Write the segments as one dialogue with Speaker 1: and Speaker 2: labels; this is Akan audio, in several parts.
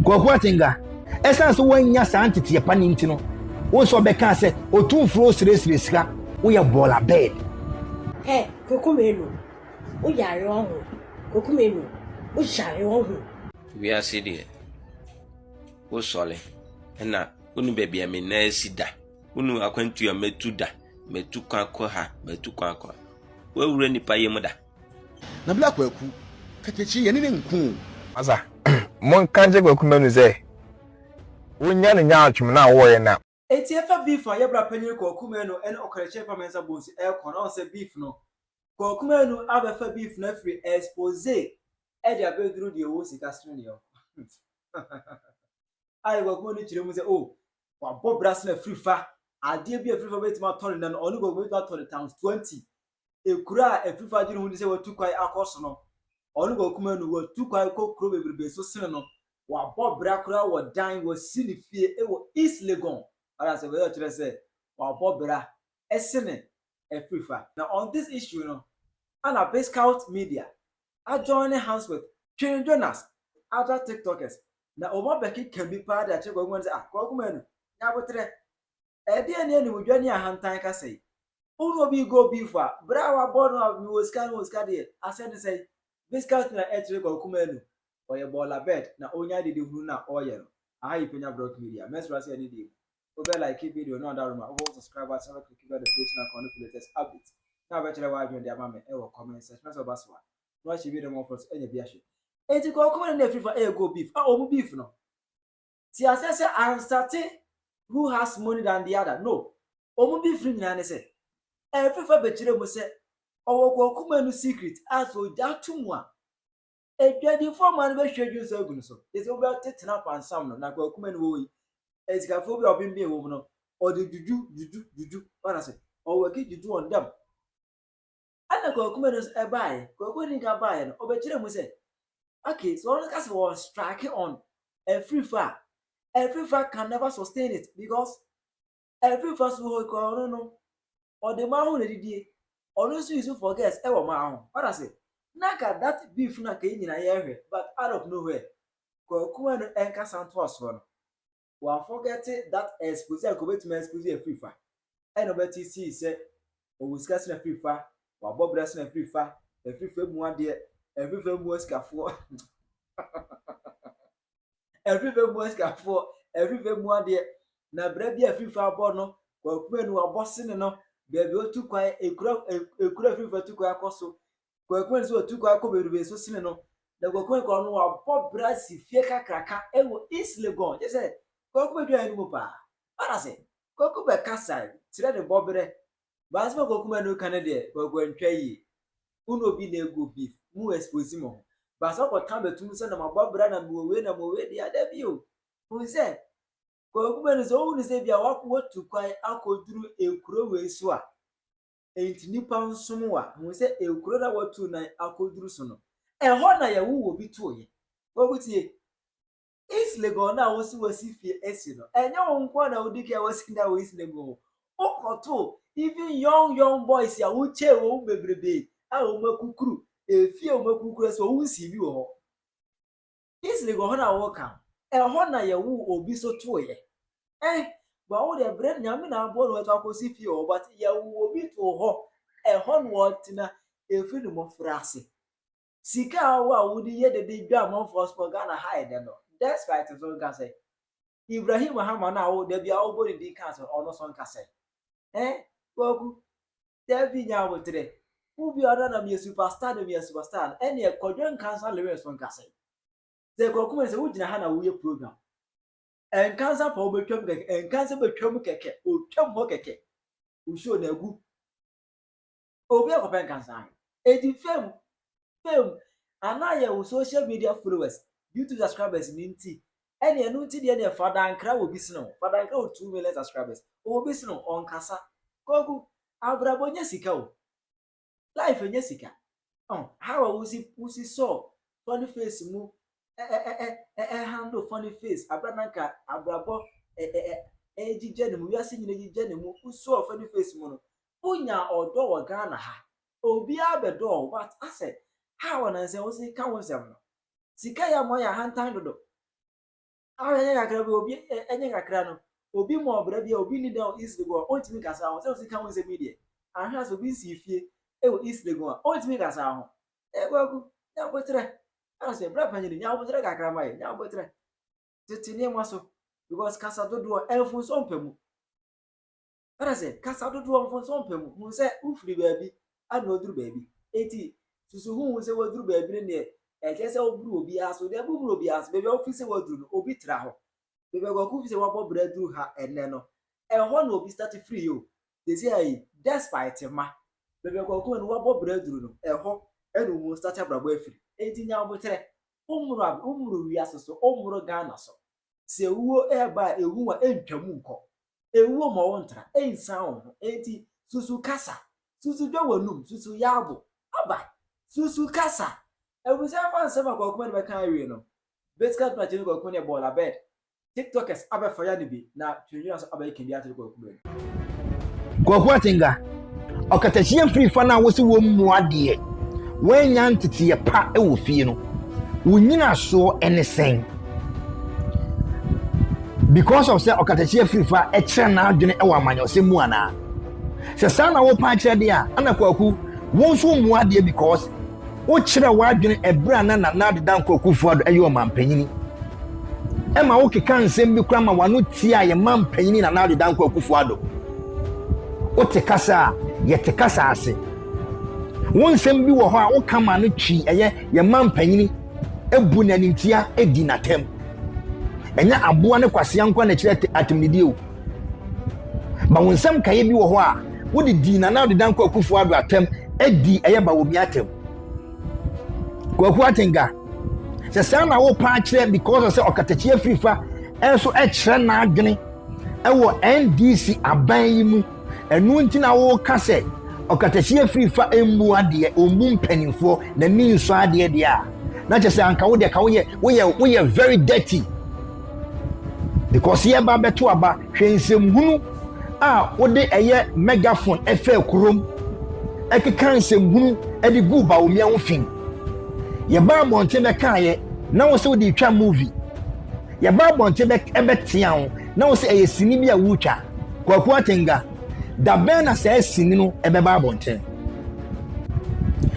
Speaker 1: Kwaku Atenga, ɛsiane sɛ woannya saa nteteɛ pa no nti no, wo nso ɔbɛkaa sɛ otumfoɔ osirasira sika, woyɛ bɔɔla bɛɛd. Hɛ,
Speaker 2: Kwaku Manu, wo yare ɔho, Kwaku Manu, wo yare ɔho. Wiase deɛ,
Speaker 3: wo sɔre na wonu baabi a me nan asi da, wonu akwantuo a matu da, matu kwan kɔ ha, matu kwan kɔ ha, woawura nnipa yam da. Na bla
Speaker 4: kwaku katakyi yɛne no nko o. Masa
Speaker 5: monka nkyɛ kwaku manu sɛ wonya no nyaatwom no a wɔyɛ no a. Enti ɛfa beef
Speaker 6: a yɛbra panyin kwaku manu ɛne ɔkarakyire mpa mɛnsa bonsu ɛkɔ no ɔn sɛ beef no kwaku manu abɛfa beef no afiri expose ɛde abɛduru deɛ ɔwɔ sika sene deɛ ɔwɔ ayɛ kwaku manu kyerɛ mu sɛ oh wabɔ bra sene afiri fa adeɛ bi afiri fa bɛtumi atɔ no nɛ no ɔne kwaku manu bɛtumi atɔ no times 20 ekura a Efifo adwene ho ni sɛ watu kwan akɔ so no, ɔno Kwakumaa no, watu kwan kɔ kuro bebrebe so sene no, wabɔ bra koraa wɔ dan, wasi ne fie wɔ East Legon, wate aseɛ, wei ɔkyerɛ sɛ wabɔ bra sene Efifa. Na on this issue no, ɛna Bizcout Media ajoine hands with Twin Jonas, other TikTokers, na wɔabɛkeka bi paa de akyerɛ Kwakumaa no sɛ, ah, Kwakumaa no, nya aboterɛ, Ɛdeɛn ne animdwa ne ahantan kasa yi? Wohunu obi rego beef a, berɛ a wabɔ no a mewɔ sika mewɔ sika deɛ, asɛm ne sɛn? Viscous na ɛkyerɛ kwakumaa anu. Ɔyɛ bɔɔla bed na ɔnya adedehunu no a ɔyɛ no. Aha yɛ Penya Brock Media. Mɛsrɛ sɛ yɛne deɛ mu. Wobɛ like video no ada roma, wobɛbɔ subscribe button na w'akliki bell notification icon no for latest updates. Na wobɛkyerɛ w'adwene de ama me wɔ comment section na sɛ ɔba so a, na wahyɛ video no mmɔfra so anya bi ahwɛ. Enti kwakumaa no na ɛfiri fa rego beef a ɔmu beef no. Te aseɛ sɛ I have started who has money than the other no ɔmu bi firi nyinaa ne sɛ ɛfiri fa bɛkyerɛ mu sɛ ɔwɔ kɔkuma no secret a sɛ ɔgya ato mu a adwadifoɔ mmaa no bɛhwie adwini so agu no so te sɛ wobɛtetena pansam no na kɔkuma no wɔyi asikafoɔ bi a ɔbembee wɔ mu no ɔde dwudwu dwudwu dwudwu wana sɛ ɔwɔ ki dwudwu wɔn dam Ɛnna Kwakumaa no nso ɛbaeɛ. Kwakumaa no nka baeɛ no, ɔbɛkyerɛɛ mu sɛ, Okay, so ɔno ka sɛ wɔn strike on afirifa a, afirifa can never sustain it because afirifa so hɔ kura ɔno no, ɔde maa ho na ɛdidie. Ɔno nso use for girls ɛwɔ maa ho. Ɔda se, na nka that beef no anka yɛn nyinaa yɛhwɛ but out of nowhere, Kwakumaa no ɛnkasa ntoa soɔ no. wa forget that expose anka obetumi expose afiri fa ɛna ɔbɛte sii sɛ ɔwɔ sika sena afiri fa wabɔ bra sena afiri fa afiri fa mu adeɛ afiri fa mu asikafoɔ afiri fa mu asikafoɔ afiri fa mu adeɛ na bra bi afiri fa abɔ no wakuma no wabɔ sene no baabi otu kwan ekura ekura afiri fa tu kwan akɔ so Koekuen nso atu kɔ akɔ bebrebe so sene no, na Koekuen kɔ no wabɔ bra si fie kakraka wɔ East Legon, kyerɛ sɛ Kwaku bɛdwae no mu paa. Ara sɛ, Kwaku bɛkasae kyerɛ ne bɔberɛ, but asɛm a Kwaku ma no ka no deɛ, Kwaku antwa yie. Wo ne obi na ɛgu wo beef, mo expose mo ho, but sɛ wokɔka bɛtom sɛ na mabɔ bra na mewɔ wei na mewɔ wei deɛ a, dabi o. Hu sɛ, Kwaku ma no sɛ wohu no sɛ ebia watu kwan akɔduru ekuro wei so a, Enti nnipa nsom wo a, hu sɛ kuro no a wɔatu nan akɔduru so no, ɛhɔ na yɛwoo obi tooeɛ. Kwaku tie, East Legon no a wose wasi fie asi no, ɛnyɛ wo nko ara na wodi kan wasi dan wɔ East Legon o. Wokɔtoo even young young boys a wokyɛɛ wɔn bebrebe a wɔakukuru, efie a wɔakukuru nso wɔnsii bi wɔ hɔ. Kingsley wɔ hɔn a wɔwɔ kan. Hɔ na yɛwoo obi so tooeɛ. Eh, bra wo deɛ brɛ Nyame na aboa na watu akosi fie hɔ but yɛwoo obi too hɔ, ɛhɔ na ɔtena ɛfiri ne mmɔfraase. Sika a ɔwɔ a wode yɛ dede dwa amanfoɔ so wɔ Ghana ha ɛnɛ no, despite nso nka sɛ Ibrahim Hama no a wo da biara wobɔ ne din ka sɛ ɔno nso nka sɛ. Eh, Kwaku. Dabi nya aboterɛ. Wo bi a ɔda na meyɛ superstar no meyɛ superstar no ɛneɛ kɔdwe nkansa lyrics no nkasɛe. Sɛ kɔku mɛ sɛ wogyina ha na woyɛ program. Nkansa pɔ wobɛtwam kɛkɛ nkansa bɛtwam kɛkɛ ɔtwam hɔ kɛkɛ. Wo show na agu. Obi akɔpɛ nkansa ayɛ. Edi fame fame anaa yɛ wo social media followers YouTube subscribers no nti Ɛne ɛno nti deɛ neɛ fa dankra wɔ bi sene wo fa dankra wɔ two million subscribers ɔwɔ bi sene wo ɔnkasa kwaku abrabɔ nyɛ sika o life nyɛ sika oh how a wusi wusi sɔ funny face mu ɛ ɛ ɛ ɛ ɛ handle funny face abira nanka abrabɔ ɛ ɛ ɛ ɛgyigya ne mu wiase nyina gyigya ne mu wusɔ funny face mu no wonya ɔdɔ wɔ Ghana ha obiara bɛdɔ o but asɛ how a nansɛ wosi ka wo nsɛm no Sika yɛ mmoa yɛ ahantan dodo. Ahwɛ nyɛ kakra bi obi ɛnyɛ kakra no obi ma ɔbra bi a obi ni dan wɔ East Legon a ɔntumi nka saa ho sɛ osika ho nsɛm yi deɛ ahwɛ asɛ obi nsii fie ɛwɔ East Legon a ɔntumi nka saa ho ɛɛ kwaku nyɛ abotrɛ asɛ bra panyin nyɛ abotrɛ kakra ma yɛ nyɛ abotrɛ tete nneɛma so because kasa dodoɔ ɛnfunso mpɛ mu. Ɛna sɛ kasa dodoɔ mfomsoɔ mpɛ mu hu sɛ wofiri baabi ana ɔduru baabi enti susu ho hu sɛ waduru baabi no deɛ ɛkyɛ sɛ woburu obiara so deɛ boburu obiara so baabi a wofiri sɛ waduru no obi tra hɔ baabi a kwaku fi sɛ wabɔ berɛ aduru ha ɛnɛ no ɛhɔ na obi start firi yi o tɛsi ayi despite ma baabi a kwaku no wabɔ berɛ aduru no ɛhɔ ɛna ɔmu start abrabɔ afiri enti nya aboterɛ wommoro wommoro wiase so wommoro Ghana so Sɛ ewuo reba a, ehu a, entwa mu nkɔ. Ewuo ma wontra, ensian wo ho. Enti, susu kasa. Susu dwa w'anum. Susu yɛ abo. Aba! Susu kasa! Abusuafo fa nsɛm a Kwaku Madu bɛka awie no, Betscad Prache ne Kwaku ne bɔɔla bɛd, Tiktokers abɛfa ya no bi, na Twendwena nso abɛkeka bi akyerɛ Kwaku.
Speaker 1: Kwaku Atengah, Ɔkatahyia mfiri fa no a wose wɔmmua deɛ wannya nteteeɛ pa wɔ fie no, wo nyinasoɔ ne sɛn? Because of sɛ ɔkatahyia firi fa kyerɛ n'adwene wɔ amanyɔsɛm mu anaa? Sɛ saa na wopa akyerɛ deɛ a, ɛna Kwaku, wo nso mmua deɛ because Wokyerɛ w'adwene bere a na Nana Ado Dankwa Akufo-Addo yɛ ɔmampanyin. Ɛma wokeka nsɛm bi koraa ma w'ano tia yɛn mampanyin Nana Ado Dankwa Akufo-Addo. Wote kasa a, yɛte kasa ase. Wo nsɛm bi wɔ hɔ a woka ma ano twi ɛyɛ yɛn mampanyin bu no animtia di n'atɛm. Ɛnyɛ aboa ne kwasea nko ara na ɛkyerɛ atemnidie o. Ma wo nsɛm nkaeɛ bi wɔ hɔ a wode dii Nana Ado Dankwa Akufo Ado atɛm adi ɛyɛ Bawumia atɛm. Kwaku Atenga, sɛ saa na wopa akyerɛ because sɛ ɔkatakyi afirifa nso kyerɛ n'adwene wɔ NDC aban yi mu, ɛno nti na woka sɛ ɔkatakyi afirifa mmu adeɛ, ɔmmu mpanimfoɔ, n'ani nsɔ adeɛ deɛ a, na kyerɛ sɛ anka wo deɛ ka woyɛ, woyɛ, woyɛ very dirty. Because yɛba bɛto aba, hwɛ nsɛmhunu a wode ɛyɛ megaphone ɛfɛɛ kurom, ɛkeka nsɛmhunu ɛde guu Bawumia ho fi. Yɛbaa abɔnten bɛkaeɛ, na wo sɛ wode retwa movie. Yɛbaa abɔnten bɛ ɛbɛtea wo, na wo sɛ ɛyɛ sini bi a woretwa. Kwaku Atenga, da bɛn na saa sini no ɛbɛba abɔnten?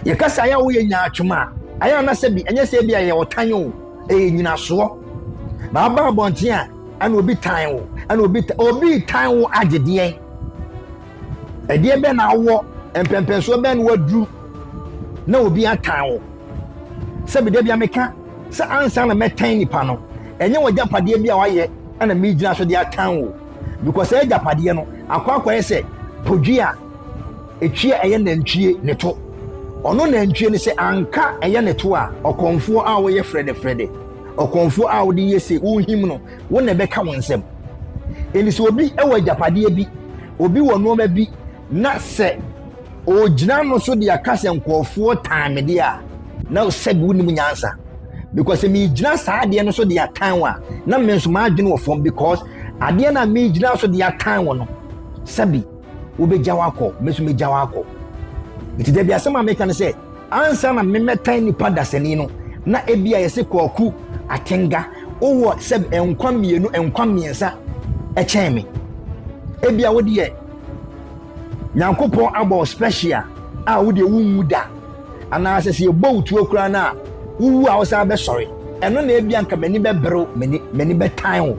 Speaker 1: Yɛka sɛ ayɛ a woyɛ nyaatwom a, ayɛ a na sɛ bi ɛnyɛ sɛ ebi a ɛyɛ ɔtan o. Ɛyɛ nyinasoɔ na aba abɔnten a ɛna obi tan wo ɛna obi obi tan wo agyedeɛ ɛdeɛ bɛ na awɔ mpɛmpɛnsoɔ bɛ na waduru na obi atan wo sɛ bida bia meka sɛ ansa na mɛtan nipa no ɛnyɛ wɔ gyapadeɛ bi a wayɛ ɛna megyina so de atan wo because ɛyɛ gyapadeɛ no akɔ akɔyɛ sɛ podua Etwi a ɛyɛ nantwie ne to. Ɔno nantwie no sɛ anka ɛyɛ ne to a, ɔkɔmfoɔ a woyɛ frɛdɛfrɛdɛ, ɔkɔmfoɔ a wode yɛ se worehim no, wo na ɛbɛka wo nsam. Enti sɛ obi wɔ agyapadeɛ bi, obi wɔ nnoɔma bi na sɛ ɔgyina ano so de aka sɛ nkurɔfoɔ tan me deɛ a, na sɛbe wonim nyansa because sɛ megyina saa adeɛ no so de atan wo a, na me nso m'adwene wɔ fam because adeɛ no a megyina so de atan wo no, sɛbe. wobegyaw akɔ, me nso megyaw akɔ. Nti dabi asɛm a meka ne sɛ, ansa na memmɛtan nipa dasani no, na ebia yɛse Kwaku Atenga, wowɔ sɛ nkwa mmienu, nkwa mmiɛnsa kyɛn me. Ebia wo deɛ, Nyankopɔn abɔ special a wo deɛ wonwu da, anaasɛ sɛ yɛbɔ wo tuo koraa no a, wowu a wosan bɛsɔre. Ɛno na ebia nka m'ani bɛberew, m'ani bɛtan wo.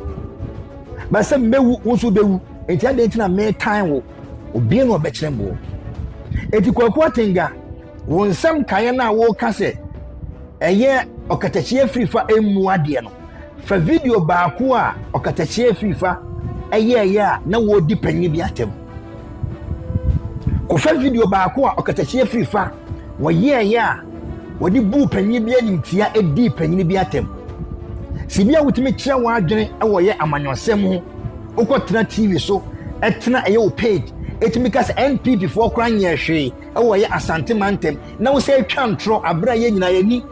Speaker 1: Ba sɛ mewu, wo nso wobɛwu. Enti adɛn nti na metan wo? Obiara na ɔbɛkyerɛ mboɔ. Enti Kwaku Atenga, wo nsɛm kaeɛ no a woka sɛ ɛyɛ ɔkatakyie firifa mmu adeɛ no, fa video baako a ɔkatakyie firifa ɛyɛɛyɛ a na wɔredi panyin bi atɛm. Kɔfa video baako a ɔkatakyie firifa wɔyɛɛyɛ a wɔde buu panyin bi animtia dii panyin bi atɛm. Sɛ bi a wotumi kyerɛ w'adwene wɔ yɛ amanyɔsɛm ho Wokɔ tena TV so tena ɛyɛ wo page ɛtumi ka sɛ NPP foɔ koraa nyɛɛ hwee ɛwɔ ɛyɛ Asante mantam na wo sɛ ɛtwa ntorɔ aberɛ a yɛ nyinaa yɛni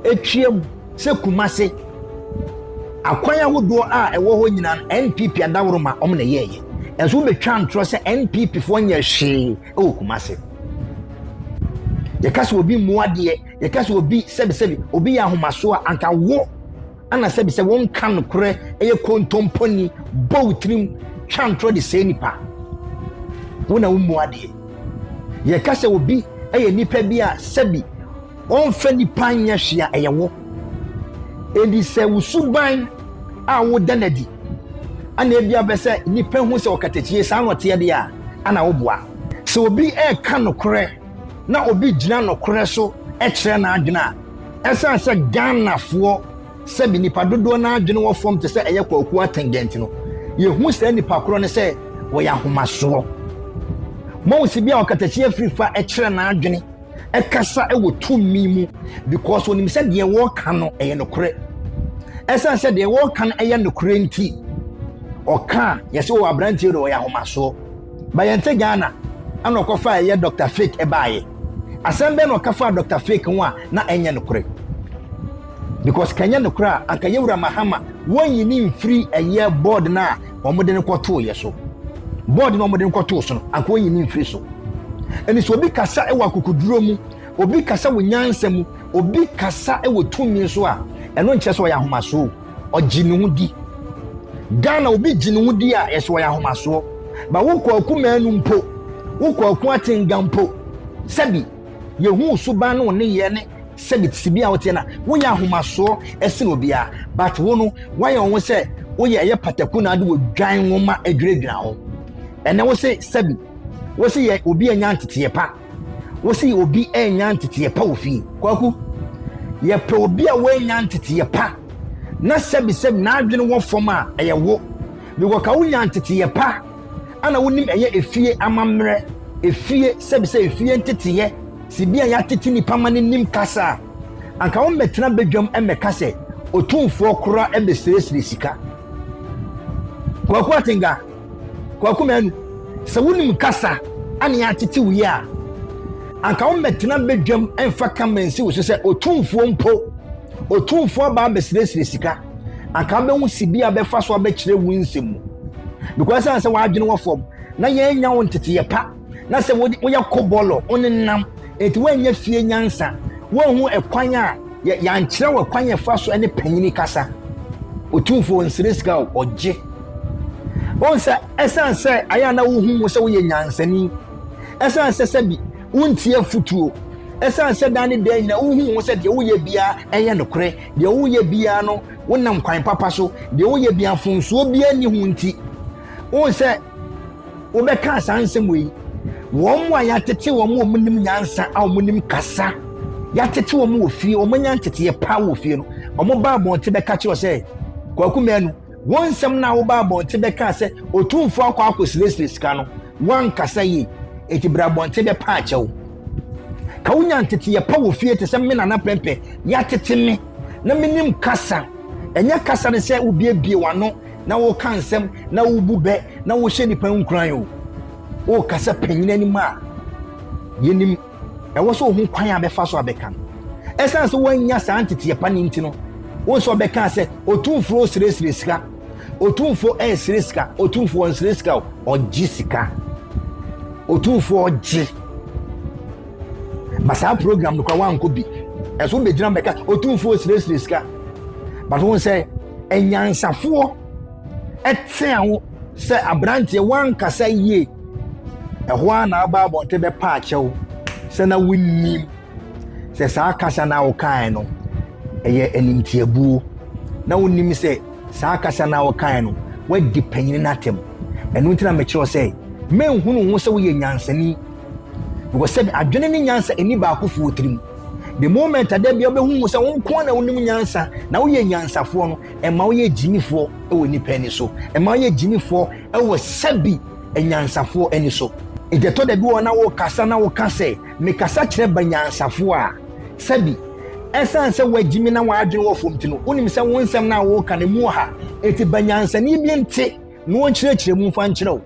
Speaker 1: ɛtwam sɛ Kumase akwan ahodoɔ a ɛwɔ hɔ nyinaa no NPP adaworoma ɔm na yɛɛyɛ ɛnso wobɛtwa ntorɔ sɛ NPP foɔ nyɛ hwee ɛwɔ Kumase yɛka sɛ obi mmoadeɛ yɛka sɛ obi sɛbisɛbi obi yɛ ahomasoɔ anka wo Ana sɛbi sɛ wonka nokorɛ yɛ kontomponi, bɔ wo tirim, twa ntorɔ de sɛe nnipa? Wo na wommu adeɛ. Yɛka sɛ obi yɛ nnipa bi a sɛbi ɔmfa nnipa nyɛ hwee a, ɛyɛ wo. Enti sɛ wo suban a woda no adi ana ebia wopɛ sɛ nnipa hu sɛ ɔkatakyie saa na ɔteɛ deɛ a, ana woboa. Sɛ obi reka nokorɛ na obi gyina nokorɛ so kyerɛ n'adwene a, Ɛsiane sɛ Ghanafoɔ sɛbi nnipa dodoɔ no ara adwene wɔ fam te sɛ ɛyɛ Kwaku Atenge nti no, yɛhu saa nnipa korɔ no sɛ wɔyɛ ahomasoɔ. Moahu sɛ bi a ɔkatakyie afiri fa kyerɛ n'adwene kasa wɔ tumi mu because ɔnim sɛ deɛ wɔreka no ɛyɛ nokorɛ. Ɛsiane sɛ deɛ wɔreka no ɛyɛ nokorɛ nti, ɔka a yɛsɛ wɔ aberanteɛ no ɔyɛ ahomasoɔ. Bayɛnte Ghana ɛna ɔkɔfa ɛyɛ Dr. Fake ɛbaeɛ. Asɛm bɛn na ɔka faa Dɔkta Fake ho a na ɛnyɛ nokorɛ? Because ka ɛnyɛ nokorɛ a, anka Yawura Mahama wɔnyi no mfiri ɛyɛ board no a wɔde no kɔtooeɛ so. Board no a wɔde no kɔtoo so no, anka wɔnyi no mfiri so. Ɛne sɛ obi kasa wɔ akokoduro mu, obi kasa wɔ nyansa mu, obi kasa wɔ tumi so a, ɛno nkyerɛ sɛ ɔyɛ ahomasoɔ. ɔgye ne ho di. Ghana obi gye ne ho di a yɛsɛ wɔyɛ ahomasoɔ. Ba wo kwaku manu mpo, wo kwaku atenga mpo, sɛbi yɛhu suban ne wo nneyɛɛ ne sɛbi sibi a woteɛ no a, woyɛ ahomasoɔ ɛsene obiara. But wo no, woayɛ wo ho sɛ woyɛ ɛyɛ pataku na ade wɔ dwan nwoma adwiradwira ho. Ɛnɛ wo se sɛbi, wo se yɛ obi anya nteteɛ pa. wo se obi annya nteteɛ pa wɔ fie. Kwaku, yɛpɛ obi a wannya nteteɛ pa na sɛbisɛbi n'adwene wɔ fam a, ɛyɛ wo. Because ka wonya nteteɛ pa a na wonim ɛyɛ efie amammerɛ, efie sɛbisɛ efie nteteɛ, sibea yɛatete nipa ma no nim kasa a, anka wommɛtena badwam mmɛka sɛ Otumfoɔ koraa bɛsrɛsrɛ sika. Kwaku Atenga. Kwaku Manu, sɛ wonim kasa a ne yɛatete wo yi a, anka wommɛtena badwam mfa kama nsi wo so sɛ otumfoɔ mpo. Otumfoɔ aba abɛsrɛsrɛ sika, anka wobɛhu sibea a bɛfa so abɛkyerɛ wo nsɛm mu. Because ɛsiane sɛ w'adwene wɔ fam na yɛannya wo nteteyɛ pa. na sɛ woyɛ kɔbɔlɔ, wonenam, enti woannya fie nyansa, woanhu ɛkwan a yɛankyerɛ wo ɛkwan a ɛfa so ne panyini kasa. Otumfoɔ nsrɛ sika a ɔgye. Wohu sɛ ɛsiane sɛ ayɛ a na wohu wo sɛ woyɛ nyansani, ɛsiane sɛ sɛbi wontie afotuo, ɛsiane sɛ daa ne daa nyinaa wohu wo sɛ deɛ woyɛ biara ɛyɛ nokorɛ, deɛ woyɛ biara no wonam kwan papa so, deɛ woyɛ biara mfomsoɔ biara nni ho nti, wohu sɛ wobɛkaa saa nsɛm wei wɔn mu a yɛatete wɔn a wɔnim nyansa a wɔnim kasa yɛatete wɔn wɔ fie wɔn anya nteteɛ paa wɔ fie no wɔn ba abɔnten bɛka kyerɛ sɛ kwaku mmienu wɔn nsɛm no a wɔba abɔnten bɛka sɛ otumfo akɔ akɔsiresire sika no wankasa yie eti bere abɔnten bɛpa akyɛw ka wonya nteteɛ pa wɔ fie te sɛ me nana pɛmpɛ yɛatete me na menim kasa ɛnyɛ kasa no sɛ wobiebie w'ano na woka nsɛm na wobu bɛ na wohyɛ nnipa nkuran o woka sɛ panyin anim a yɛnim ɛwɔ sɛ ohu kwan a bɛfa so abɛka no ɛsiane sɛ woannya saa nteteɛ pa ne nti no wo sɛ ɔbɛka sɛ ɔtumfoɔ ɔsiresire sika ɔtumfoɔ ɛresire sika ɔtumfoɔ ɔnsire sika ɔgye sika ɔtumfoɔ ɔgye ba saa program no kora woankɔ bi ɛso bɛgyina bɛka ɔtumfoɔ ɔsiresire sika but wo sɛ anyansafoɔ tea wo sɛ aberanteɛ woankasa yie ɛhɔ a na aba abɔnte bɛpa akyɛw sɛ na wonnim sɛ saa kasa no a wokae no ɛyɛ animtiabuo na wonnim sɛ saa kasa no a wokae no woadi panyini no atɛm ɛno nti na mekyerɛw sɛ menhunu ho sɛ woyɛ nyansani Because sɛbi adwene ne nyansa ɛni baako fo wɔ tirim. The moment ada bia wobɛhu mu sɛ wo nko ara na wonim nyansa na woyɛ nyansafoɔ no, ɛma woyɛ gyimifoɔ wɔ nipa ani so. Ɛma woyɛ gyimifoɔ wɔ sɛbi anyansafoɔ ani so. Nti ɛtɔ da bi wɔ na wokasa na woka sɛ mekasa kyerɛ banyansafoɔ a, sɛbi ɛsiane sɛ woagyimi na w'adwene wɔ fam nti no, wonim sɛ wo nsɛm no a woka no ɛmu ɔha. Nti banyansani bi nte na ɔnkyerɛkyerɛ mu mfa nkyerɛ wo.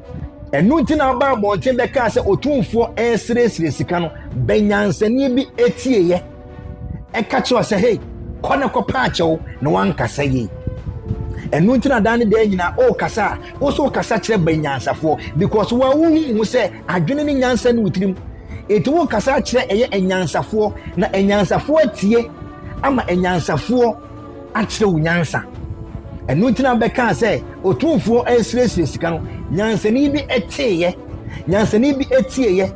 Speaker 1: Ɛno nti na ɔbaa abɔnten bɛkaa sɛ otumfoɔ resrɛsrɛ sika no, bɛnyansani bi tieeɛ. Ɛka kyerɛ sɛ, hei, kɔ na kɔpɛ akyɛw na wankasa yie. Ɛno nti na daa ne daa nyinaa ɔrekasa a, wo nso wokasa kyerɛ bɛnyansafoɔ because wo a wohu ho sɛ adwene ne nyansa ne wo tirim. Enti wokasa kyerɛ ɛyɛ anyansafoɔ na anyansafoɔ atie ama anyansafoɔ akyerɛ wo nyansa. Ɛno nti na bɛkaa sɛ otumfoɔ resrɛsrɛ sika no, nyansani bi teeɛ, nyansani bi tieeɛ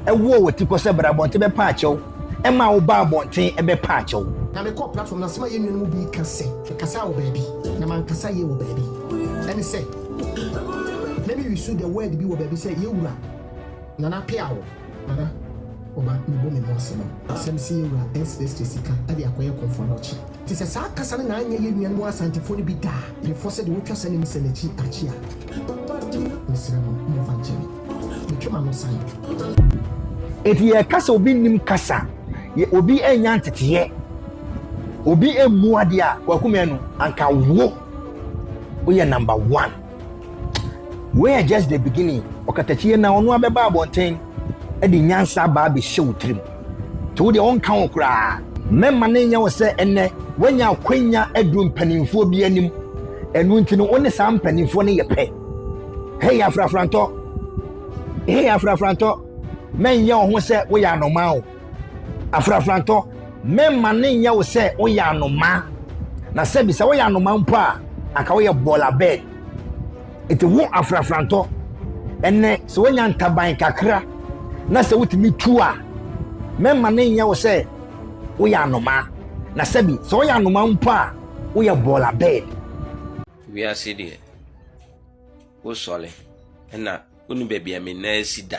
Speaker 1: ɛwɔɔ wɔ ti kɔ sɛ bra abɔnten bɛpa akyɛw, ɛmaa wo baa abɔnten ɛbɛpa akyɛw. Na me kɔɔ platform no
Speaker 7: ase ma yɛn nua no mu bi ka sɛ me kasaa wɔ baabi na mankasa yie wɔ baabi. Ɛne sɛ, na me use the word bi wɔ baabi sɛ yɛwura, Nana Peawo. Nana ɔba me bɔ me ho ase ma wo. Asɛm sɛ yɛwura ɛnsrɛsrɛ sika de akɔyɛ kɔmfoɔ no ɔkye. Te sɛ saa kasa no na anyɛ yɛn nuanom asantefoɔ no bi daa prefɔ sɛ deɛ wotwa sɛne no sɛ nakyi akyi a. Mesrɛ mo momfa nkyɛ me. Metwe m'ano san. Enti
Speaker 1: yɛka sɛ obi nnim kasa a, obi annya nteteeɛ, obi ammu adeɛ a, Kwaku Manu, anka wo woyɛ number one. Wei yɛ just the beginning. Ɔkatakyie na ɔno abɛba abɔnten de nyansa aba abɛhyɛ wo tirim. Nti wo deɛ wonka ho koraa. Mɛma no nyɛ wo sɛ ɛnnɛ woanya akwanya aduru mpanimfoɔ bi anim. Ɛno nti no wo ne saa mpanimfoɔ no yɛ pɛ. Hei afrafrantɔ, hei afrafrantɔ, mɛnyɛ wo ho sɛ woyɛ anomaa o. Afrafrantɔ, Mɛmma no nyɛ wo sɛ woyɛ anomaa, na sɛbi sɛ woyɛ anomaa mpo a, anka woyɛ bɔɔla bird. Enti ho afrafrantɔ, ɛnnɛ sɛ woanya ntaban kakra na sɛ wotumi tu a, mɛmma no nyɛ wo sɛ woyɛ anomaa, na sɛbi sɛ woyɛ anomaa mpo a, woyɛ bɔɔla bird. Wiase
Speaker 3: deɛ, wosɔre na wonni baabi a me nan si da.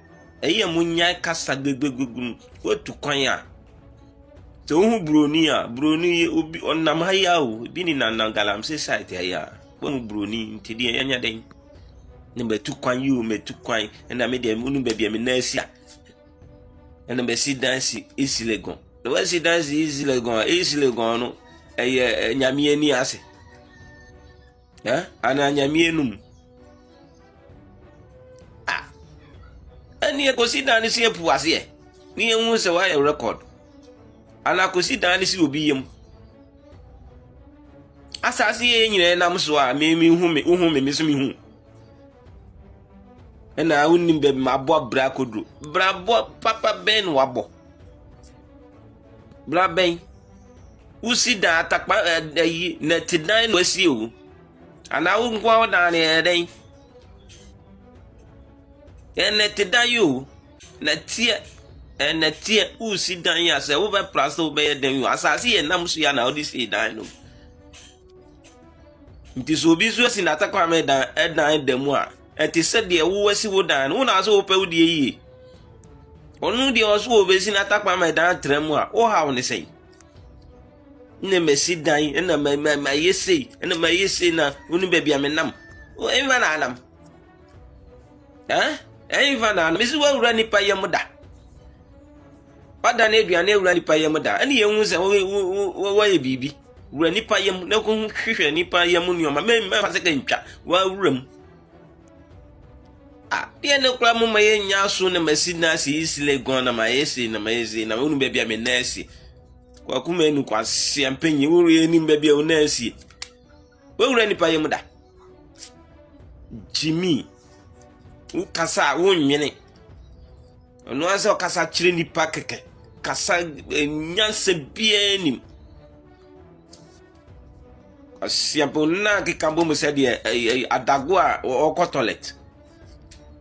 Speaker 3: Ɛyɛ a monnyae kasa gbegbegbeg no. Woatu kwan a, sɛ wohu buroni a, buroni yi obi ɔnam ha yi ara o, ebi nenam nam galamsey side ha yi ara. Woahu buroni nti deɛ yɛanya dɛn? Na matu kwan yi o, matu kwan, ɛnna me deɛ wonim baabi a me nan si a, ɛnna masi dan si esi Legon. Na woasi dan si esi Legon a, esi Legon no, ɛyɛ eh, nyame ani ase. Eh? Anaa nyame enum? Ah! Ɛne ɛkɔsi dan no si apu aseɛ ne yɛhu sɛ woayɛ record anaa kɔsi dan no si obi yam asase yɛ nyinaa nam so a memehu me wohu me me so mehu ɛna wonim baabi mabɔ abira koduro brabɔ papa bɛn na wabɔ Bra bɛn. Wosi dan atakpa ɛ eh, ayi eh, nɛte dan na wɔasie wo anaa wo nko ara dan no yɛ dɛn ɛnɛte dan yi o nɛteɛ ɛnɛteɛ wosi dan yi a sɛ wobɛpra sɛ wobɛyɛ dan yi o asase yɛ nam so yɛ na wode sie dan no nti sɛ obi nso asi n'atakwa me dan ɛdan da mu a Ɛte sɛ deɛ woasi wo dan no, wo na sɛ wopɛ wo deɛ yie. Ɔno deɛ ɔso wɔ bɛsi no atakwan ma ɛdan tra mu a, wohaw ne sɛn? na masi dan na mayɛ sei na mayɛ sei na wo ne baabi a menam ɛmfa na anam ɛmfa na anam mesi woawura nnipa yam da Ɔda no aduane awura nnipa yam da, ɛne yɛn hu sɛ wɔyɛ biribi wura nnipa yam na kɔhu hwehwɛ nnipa yam nneɛma mɛmfa sɛ kantwa wɔawura mu. Ah, deɛ ne kora mo ma yɛnya so na masi na ase yi sile gɔn na mayɛ sei na mayɛ sei na wonu baabi a me nan asie kwaku ma anu kwaseɛ mpanyi wowura yɛ anim baabi a wo nan asie wowura nnipa yam da gyimi wokasa a wonwene Ɔno ara sɛ ɔkasa kyerɛ nnipa kɛkɛ. Kasa eh, nyansa biara nim. Asiabonna keka bɔ mu sɛdeɛ eh, eh, adago a ɔkɔ toilet.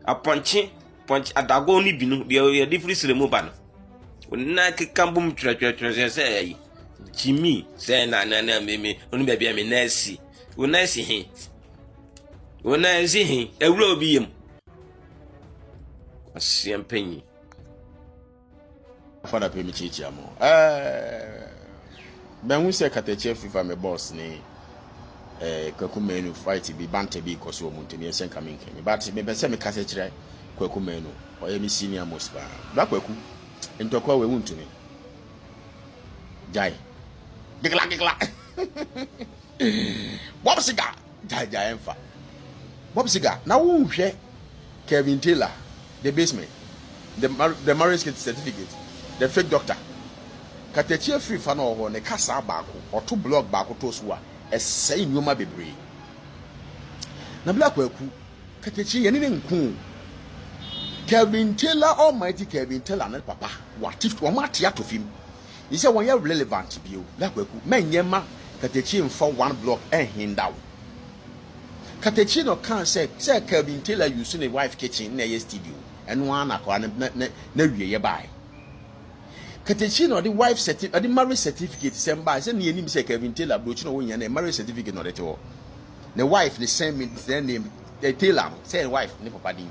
Speaker 3: Apɔnkye pɔnkye adago no bi no deɛ yɛde firi srɛ mu ba no. Ɔnna keka bɔ mu twerɛtwerɛtwerɛ sɛ ɛyi. Jimmy sɛ na na na me me ɔno baabi a me nan si. Wo nan si he? Wo nan si he? Awura obi yam. Kwasia mpanyin.
Speaker 4: Afa na pɛ me kyiakyia mo. Ɛɛ bɛnhu sɛ katakyia fifa me boss ne ɛɛ kwaku menu fight bi banta bi kɔ so wɔn ntɛm yɛ sɛ nka me nkɛ me but mepɛ sɛ me kasa kyerɛ kwaku menu ɔyɛ me senior most paa bra kwaku ntɔkwa wɔ ewu ntumi gyae gigla gigla bob siga. Gyae gyae ɛmfa. Bob Seger na wonhwɛ Kelvin Taylor, The Basement, The, the Marriage Certificate, The Fake Doctor. Katakyie afiri fa na ɔwɔ hɔ ne kasaa baako ɔto blog baako too so a ɛsɛe nnoɔma bebree. Nabila Kwaku, Katakyie yɛne ne nko o. Kelvin Taylor Almighty Kelvin Taylor ne papa wɔate wɔn ate ato fim. Gye sɛ wɔn yɛ relevant bio. Bla Kwaku, mɛnyɛ ma Katakyi nfa one block nhinda wo. Katakyi na ɔkaa sɛ sɛ Kelvin Taylor use ne wife kitchen na ɛyɛ studio. Ɛno ara na akwadaa no na na n'awieeɛ baeɛ. Katakyi na ɔde wife certi ɔde marriage certificate sɛm baeɛ. Sɛ nea ɛnim sɛ Kelvin Taylor aburokyi na wɔnyia na marriage certificate na ɔde te hɔ. Ne wife ne sɛn ne sɛn name Taylor no sɛn wife ne papa din.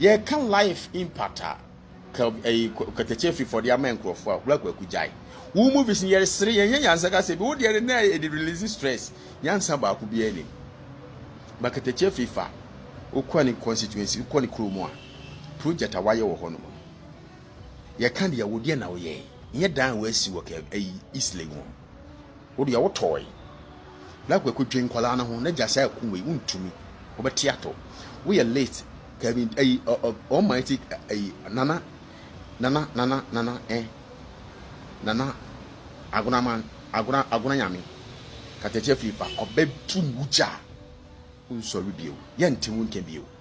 Speaker 4: Yɛka life impact a ka ɛyi kɛtɛkyɛ fi fɔde ama nkurɔfoɔ a wura kwaku gyae wo movies no yɛresere yɛnyɛ nyansa ka sɛ bi wo deɛ na ɛde release stress nyansa baako biara nim ba kɛtɛkyɛ fi fa wokɔ ne constituency wokɔ ne kuro mu a project a wayɛ wɔ hɔ nom yɛka deɛ wo deɛ na woyɛ nyɛ dan a wɔasi wɔ kɛ ɛyi east lake mu Wo deɛ wo tɔɔe. Na kwaku dwen nkwadaa no ho n'agya saa aku wei wontumi wobɛte ato woyɛ late Kevin ayi almighty ayi nana nana nana nana eh nana agona man agona agona nyame katakyɛ firi fa ɔbɛ tum wugya wonsɔre bio yɛnte wo nka bio.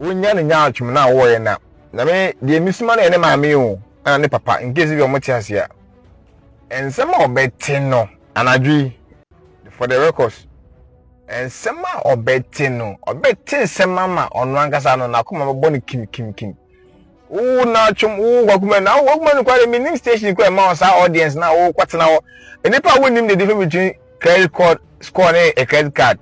Speaker 5: wonya ne nyaatwom na wɔyɛ na na me deɛ mesuma no yɛ ne maame o ɛna ne papa nkesi bi wɔte ase a nsɛm a ɔbɛte no anadwo yi for the records nsɛm a ɔbɛte no ɔbɛte nsɛm ama ɔno ankasa no n'akoma bɛbɔ no kim kim kim wo n'atwom wo wakuma na wo wakuma no kware menim station kɔ ɛma wɔ saa audience na wo kɔtena hɔ nnipa a wonim the difference between credit card score ne a credit card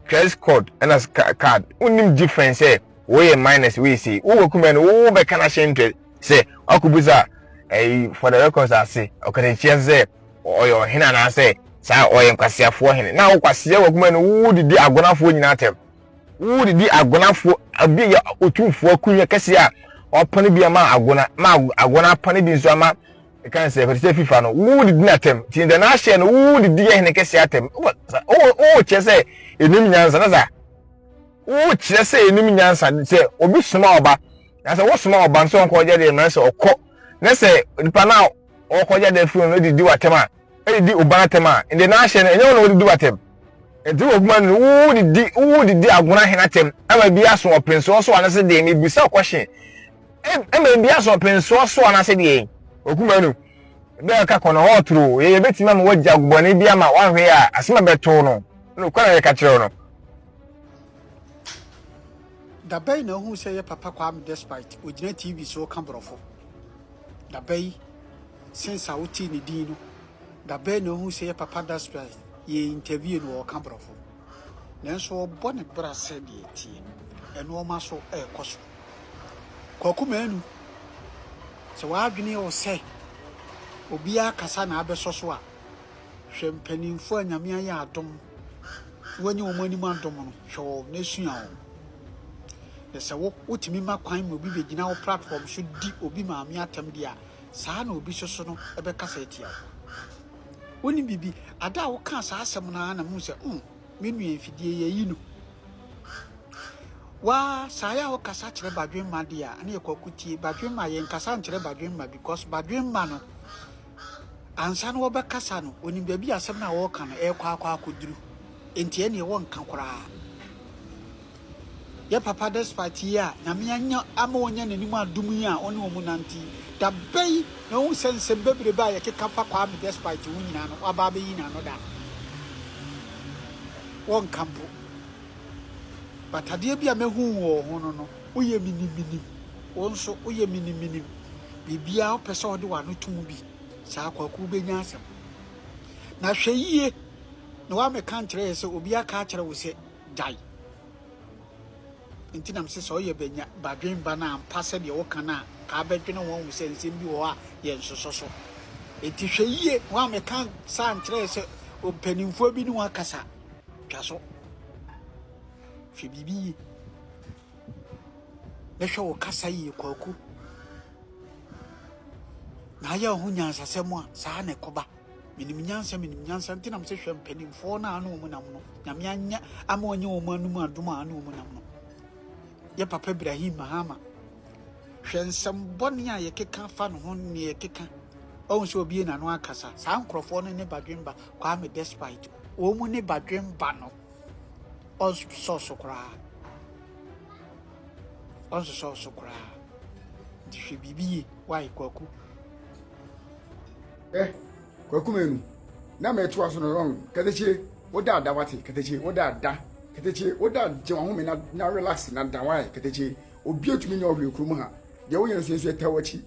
Speaker 5: Credit code ɛna card wonim difference sɛ woyɛ minus wei sei wowɔ kumɛ no wowo bɛka no ahyɛ ntrɛ sɛ wakɔbusa ɛyi eh, for the records ase ɔkatakyia sɛ ɔyɛ ɔhene anaasɛ saa ɔyɛ nkwaseafoɔ hene na wokwaseɛ wɔ kumɛ no wowo didi agonafoɔ nyinaa tɛm wowo didi agonafoɔ obi yɛ otumfoɔ kunyɛ kɛseɛ a ɔpɔne bi ama agona ma agona apɔne bi nso ama ɛkan sɛ ɛfɛ sɛ fifa no wo didi n'atɛm ti ntɛ n'ahyɛ no wo didi yɛ hene kɛse atɛm wo wo kyerɛ sɛ enim nyansa na sa wo kyerɛ sɛ enim nyansa sɛ obi soma ɔba na sɛ wo soma ɔba nso ɔnkɔ ɔgya deɛ mmerɛ sɛ ɔkɔ na sɛ nipa no a ɔkɔ gya deɛ firi no didi w'atɛm a ɛdidi ɔba n'atɛm a ntɛ n'ahyɛ no ɛnyɛ wo na wo didi w'atɛm nti wɔ kuma no wo didi wo didi agona hene atɛm ama bi aso ɔpɛnso ɔso anase deɛ mebisa ɔkɔhye Ɛma ebi asɔ pensoɔ soɔ anaasɛ deɛ yi. Okuma nu bɛ ɔka kɔ no hɔ toro yɛ yɛ bɛtumi ama wagya bɔne bi ama wanhwɛ yɛ a asɛm a bɛtoo no na okwa na yɛka kyerɛw no.
Speaker 8: Da bɛn na ohuu sɛ yɛ papa Kwame despite ogyina TV so ka borɔfo? Da bɛn since a wotee ne din no da bɛn na ohuu sɛ yɛ papa despite yɛ interview no ɔka borɔfo? nanso ɔbɔ ne bra sɛ deɛ ɛteɛ. Nnoɔma so ɛrekɔ so. Kwaku Manu, sɛ w'adwene yɛ wo sɛ obiara kasa na abɛsɔ so a, hwɛ mpanimfoɔ a Nyame ayɛ adom na wanya wɔn anim adom no, hwɛ wɔn na sua wɔn. Na sɛ wo wotumi ma kwan ma obi bɛgyina wo platform so di obi maame atɛm deɛ a, saa na obi soso no bɛkasa atia wo. Wonim biribi. Ada a wokaa saa asɛm no ara na mu sɛ, mm, me nua mfidie yi ayi no. Waa saa yɛ a wokasa kyerɛ badwemma deɛ a, ne yɛ kwaku tie. Badwemma yɛ nkasa nkyerɛ badwemma because badwemma no, ansa na wɔbɛkasa no, onim baabi asɛm no a wɔreka no ɛrekɔ akɔ akɔduru. Nti ɛneɛ wɔnka koraa. Yɛ papa despite yi a Nyame anya ama wɔanya n'anim adom yi a wɔne wɔn nante yi, da bɛn na wohu sɛ nsɛm bebrebe a yɛkeka fa Kwame despite ho nyinaa no waba abɛyi n'ano da? Wɔnka mpo. But adeɛ bi a mahu wɔ wo ho no no, woyɛ menim menim. Wo nso woyɛ menim menim. Biribiara wopɛ sɛ wode w'ano to mu bi saa Kwaku wobɛnya asɛm. Na hwɛ yie na woamɛka nkyerɛ yɛ sɛ obi aka akyerɛ wo sɛ gyae. Enti na mese sɛ ɔyɛ banya badwemba no ampa sɛdeɛ woka no a, nka abɛdwene ho ahu sɛ nsɛm bi wɔ hɔ a yɛnsosɔ so. Enti hwɛ yie, wo a meka saa nkyerɛɛ sɛ mpanimfoɔ bi ne wo akasa. Twa so. Hwɛ biribi yie. Na hwɛ wo kasa yie, Kwaku. Na ayɛ wo ho nyansasɛm a, saa na ɛkɔba. Menim nyansa menim nyansa nti na mese hwɛ mpanimfoɔ no a ne wɔn nam no nyame anyɛ ama ɔnyɛ wɔn anum adom a ne wɔn nam no yɛ papa Ibrahim Mahama hwɛ nsɛm bɔne a yɛkeka fa ne ho ne yɛkeka ɔhu sɛ obie n'ano akasa saa nkurɔfoɔ no ne badwemba Kwame Despite wɔn mu ne badwemba no ɔnsosɔ so koraa ɔnsosɔ so koraa nti hwɛ biribi yie wae kwaku Ɛ,
Speaker 9: Kwaku Manu, na mɛ to aso no rɔn, kɛtɛkye, wo da da wate, kɛtɛkye, wo da da, kɛtɛkye, wo da gye wɔn home na na relax na da wae, kɛtɛkye, obi atumi nyɛ ɔhwee kurom ha, deɛ woyɛ no sɛnsu ɛtɛ wakyi.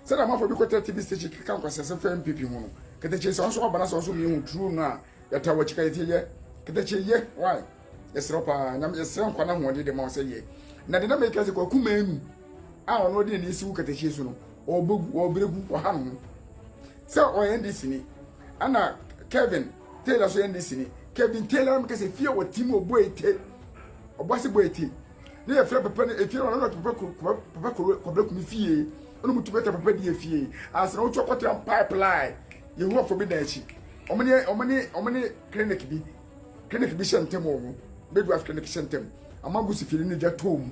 Speaker 9: Sɛdeɛ amanfoɔ bi kɔtɛ TV station keka nkwasɛsɛ fɛ mpepi ho no, kɛtɛkye, sɛ wɔn nso wɔba na sɛ wɔn nso mmienu ho turu no a, yɛtɛ wakyi, kɛtɛkye yɛ, kɛtɛkye yɛ, wae. yɛsrɛ wo paa nyame yɛsrɛ nkwa no ahoɔden de ma wo sɛ yɛ na de na meka sɛ kwaku maanu a ɔno ɔde ne si wo katahyie so no ɔbɛgu ɔbrɛgu ɔha no ho sɛ ɔyɛ nde sini ana kevin taylor so yɛ nde sini kevin taylor meka sɛ fie wɔ tim ɔbɔ ete ɔbɔ ase bɔ ete ne yɛfrɛ papa no efie no ɔno ɔte papa papa kɔbrɛ kumi fie ɔno mu tu bɛtɛ papa di efie ansa na wotwa kɔtra pipeline yehowa fo bi dan akyi ɔmo ne ɔmo ne ɔmo ne clinic bi Clinic bi hyɛ ntam wɔ hɔ. Midwife clinic hyɛ ntam. Ama Gusi firi ne gya too mu.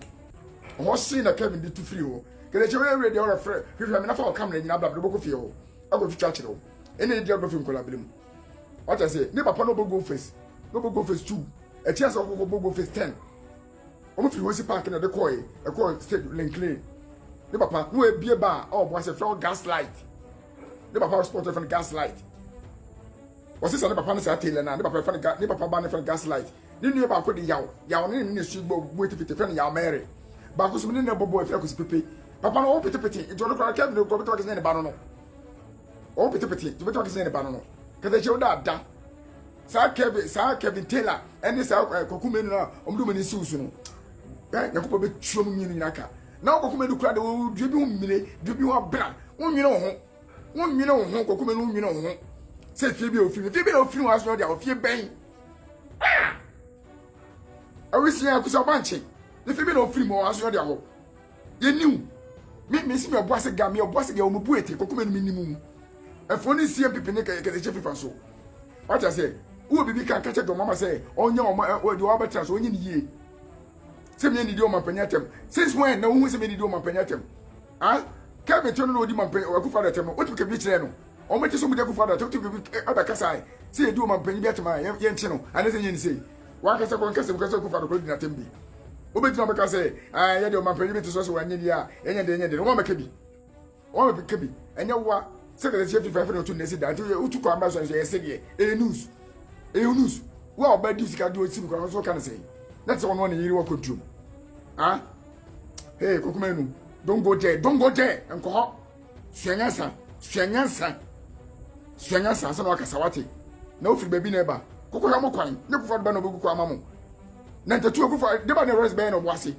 Speaker 9: Ɔhɔ sei na Kevin de tu firi hɔ. Kelechi wei wei deɛ ɔrɛ frɛ hwehwɛ me na fa wɔ kamera nyina abla bɛbɔ kɔ fie hɔ. Akɔ twitwa kyerɛ wo. Ɛna ɛdi agorɔ fi nkɔla bere mu. Wate aseɛ ne papa na ɔbɔ go face na ɔbɔ go face two. Ɛkyi asɛ ɔkɔ kɔ bɔ go face ten. Ɔmo firi Hosi park na ɛde kɔɛ ɛkɔ stage linklin. Ne papa na ɔbie ba a ɔbɔ asɛ frɛ wɔ gaslight. Ne papa sponsor fɛ no gaslight. Wɔse sɛ ne papa ne saa Taylor no a, ne papa yɛfrɛ no ne papa ba no yɛfrɛ no Gaslight, ne nua baako de Yaw, Yaw no ne ne su bɔ bue tefete yɛfrɛ no Yaw Mary, baako so me ne no bɔ bɔ yɛfrɛ no Kwasi Pepe. Papa no ɔwo petepete nti ɔno koraa Kevin no ɔbɛtumi aka sɛ nyɛ ne ba no no, ɔwo petepete nti ɔbɛtumi aka sɛ nyɛ ne ba no no, kasa kyerɛ wo da da saa Kevin saa Kevin Taylor ɛne saa eh, Kwaku Menu no a wɔde wɔn ani si wo so no eh, Nyankopɔn bɛtua mu mmienu nyinaa ka na Kwaku Menu koraa de wɔdua bi ho mmire dua bi ho abena wonwene wo ho Wo nwene wo ho kɔkɔmɛ no wo nwene wo ho sɛ fie bi a ofiri fie bi na ofiri wɔn asɔrɔ de a ofie bɛn awisi a kusa ɔba nkye ne fie bi na ofiri mu wɔn asɔrɔ de awɔ yɛ niw mi mi si mi ɔbɔ ase ga mi ɔbɔ ase ga wɔn bu etiri kɔkɔmɛ no mi nimu ɛfo ne sie mpipi ne kɛtɛ kyɛ fifa so wata sɛ wo bibi kan kakyɛ dɔm ama sɛ ɔnyɛ wɔn ɛwɔ de wɔn abɛtena so ɔnyɛ ne yie sɛ mi yɛ ne di wɔn apɛnyɛ atɛm since when na ohun sɛ mi yɛ ne di wɔn apɛnyɛ atɛm. Ah Kevin tɛno na odi mampanyin ɔwɔ akufo adatɛm no wotumi kebiri kyerɛ no ɔmo kye so ɔmo di akufo adatɛm wotumi kebiri ɛbɛ kasa ɛ sɛ yɛdi wɔ mampanyin bi atɛm a yɛn yɛn kye no anɛ sɛ yɛn ni sei wankasa kɔ nkasa mu kasa akufo adokoro di n'atɛm bi wobɛgyina ɔmo kasa ɛ ah yɛ deɛ ɔmampanyin bi te so sɛ wɔn anyɛ a yɛnyɛ deɛ yɛnyɛ deɛ no wɔn mɛka bi wɔn mɛka bi ɛnyɛ wa sɛ kasa kyerɛ fifa fɛ na ɔtu nɛsi da nti wotu kɔ amba sɔn sɛ yɛ sɛ deɛ ɛyɛ news ɛyɛ news wo a ɔbɛ di sika di osi mu kora nso ka ne sɛ na te sɛ ɔno ne yiri wɔ kɔntuom ah hey kokoma enu don't go there don't go there nkɔ hɔ sua nyansa sua nyansa sua nyansa ansa na wakasa wate na ofiri baabi na ɛba koko hɛ mo kwan ne kofo adeba na obeku kwan ama mo na ntatu okofo deba na ɛwɛrɛs bɛyɛ na ɔbo ase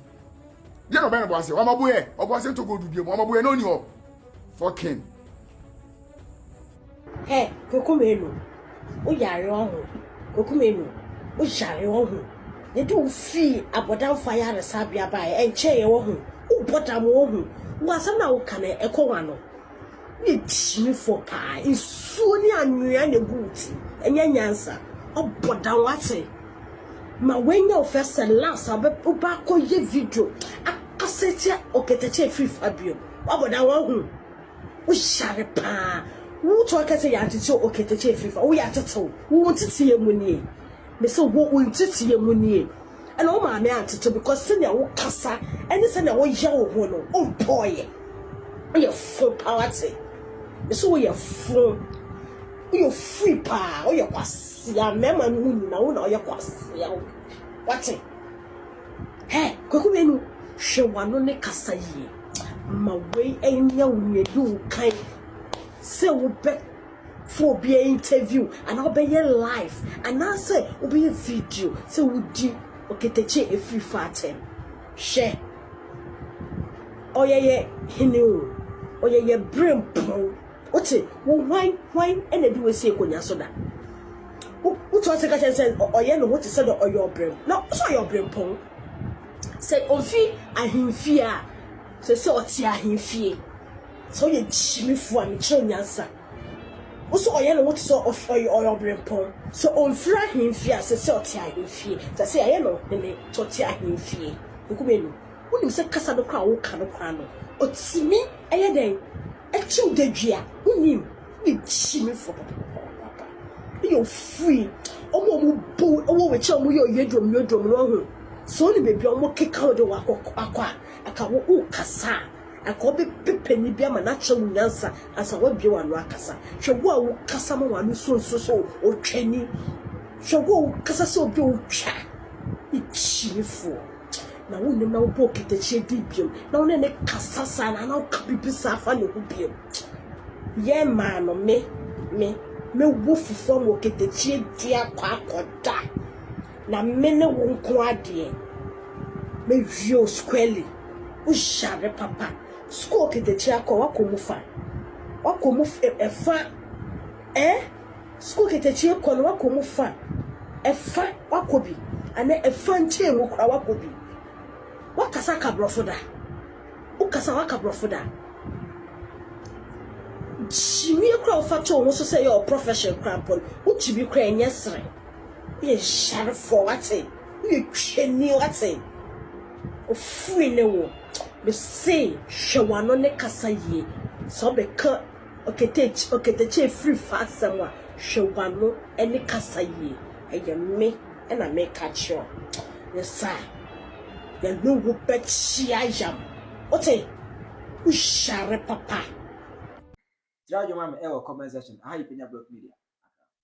Speaker 9: deɛ na ɔbɛyɛ na ɔbo ase wɔn abo yɛ ɔbo ase nto gold dua mu wɔn abo yɛ na ɔni hɔ fɔkin.
Speaker 2: Hɛ, Koko Menu, wo yare ɔho? Koko Menu, wo yare ɔho? Yɛde wo fii abɔdamfo ayaresabea baeɛ, ɛnkyɛeɛ ɔho? Wobɔ dam ɔho? Wo asɛm no a woka no, ɛkɔ wɔn ano. Woyɛ tirimfoɔ paa, nsuo ne anwea na ɛgu wo ti, ɛnyɛ nyansa. Wobɔ dam, woate? Ma wanya wo first and last a wobɛba akɔyɛ video akasa atia Okatakyɛ Afiri Fabio. Woabɔ dam, woahu? Wo yare paa. Wo tɔ kɛ sɛ yɛatetew oketekye afiri fa. Wo yɛatetew. Wo nteteɛ mu nie. Me se wo wo nteteɛ mu nie. Ɛna wo maame antetew because sɛnea wo kasa ɛne sɛnea wo yɛ wo ho no wo mpɔɔyɛ. Wo yɛ fo paa wate. Me se wo yɛ fo. Wo yɛ ofiri paa. Wo yɛ kwasea. Mmarima no mu nyinaa wo na wo yɛ kwasea. Wate. Hey! Kwaku Menu, hwɛ w'ano ne kasa yie. Ma wei nyɛ wo nea ɛdi wo kan sɛ wobɛ fo obiara interview anaa wobɛyɛ live anaasɛ wobɛyɛ video sɛ wodi ɔketekye a ɛfiri fa atɛm. Hwɛ, ɔyɛ yɛ hene o, ɔyɛ yɛ berempɔn. Wote? Wo hwan, hwan na ɛde wo asi akonnwa so da? Wo, wote ɔse ka kyerɛ sɛ ɔ, ɔyɛ ne ho te sɛ dɛ ɔyɛ ɔbrɛm, na ɔ, sɛ ɔyɛ ɔbrempɔn. Sɛ ofi ahemfie a, sɛ sɛ ɔte ahemfie. Sɛ woyɛ gyimifo a, mekyerɛ wo nyansa. Wo sɛ ɔyɛ ne ho te sɛ ɔ, ɔf, ɔyɛ, ɔyɛ ɔbrempɔn. Sɛ omfiri ahemfie a, sɛ sɛ ɔte ahemfie. Sɛ sɛ yɛayɛ no ɔhene, sɛ ɔte ahemfie. Nkume no, wonim sɛ kasa no koraa a woka no koraa no, otumi yɛ dɛn? Ɛkyew dadwi a, wunim, ne gye me fɔ papapapaapa. Woyɛ ofiri. Wɔn a wɔbu wo wɔ w'akyi a wɔyɛ oyeduomyeduom no, woahu? Sɛ wonim baabi a wɔkeka wo de wo akɔ akɔ a, anka wo worekasa a, anka wɔbɛpɛ panyin bi ama no akyerɛ wo nyansa ansa woabue w'ano akasa. Hwɛ wo a wokasa ma w'ano sunsum sɛ otwani. Hwɛ wo a wokasa sɛ obi a otwa. Ikyi me foɔ. na wo ne no bɔ katakyie bi bio na wo ne ne kasa saa na na woka biribi saa fa ne ho bio yɛ maa no me me mɛwɔ fufuo ama katakyie dua kɔ akɔda na me ne wo nko adeɛ mɛwie o squarely wohyare papa sukuu katakyie akɔ wakɔ mu fa wakɔ mu ɛfa eh Sukuu katakyie kɔ no wakɔ mu fa, ɛfa wakɔ bi anaa ɛfa nkyɛn mu koraa wakɔ bi. Wakasa aka borɔfo da? Wokasa waka borɔfo da? Kyimie koraa wofa to wo ho so sɛ yɛ wɔ profession koraa mpo no, wo kyimie koraa ɛnyɛ serɛ. Woyɛ nyarefoɔ wate, woyɛ twani wate. Ofiri ne wo. Mese hwɛ w'ano ne kasa yie sɛ wobɛka. Oketekye, Oketekye ɛfiri fa asɛm a, hwɛ w'ano ne kasa yie, ɛyɛ me na meka kyerɛ wo, ne saa yɛne wo bɛkyea yam, wote, wo
Speaker 6: hyare papa.
Speaker 2: Tira
Speaker 6: dwom ma me ɛwɔ comment section,
Speaker 2: aha yɛ
Speaker 6: Penya Block Media, Accra.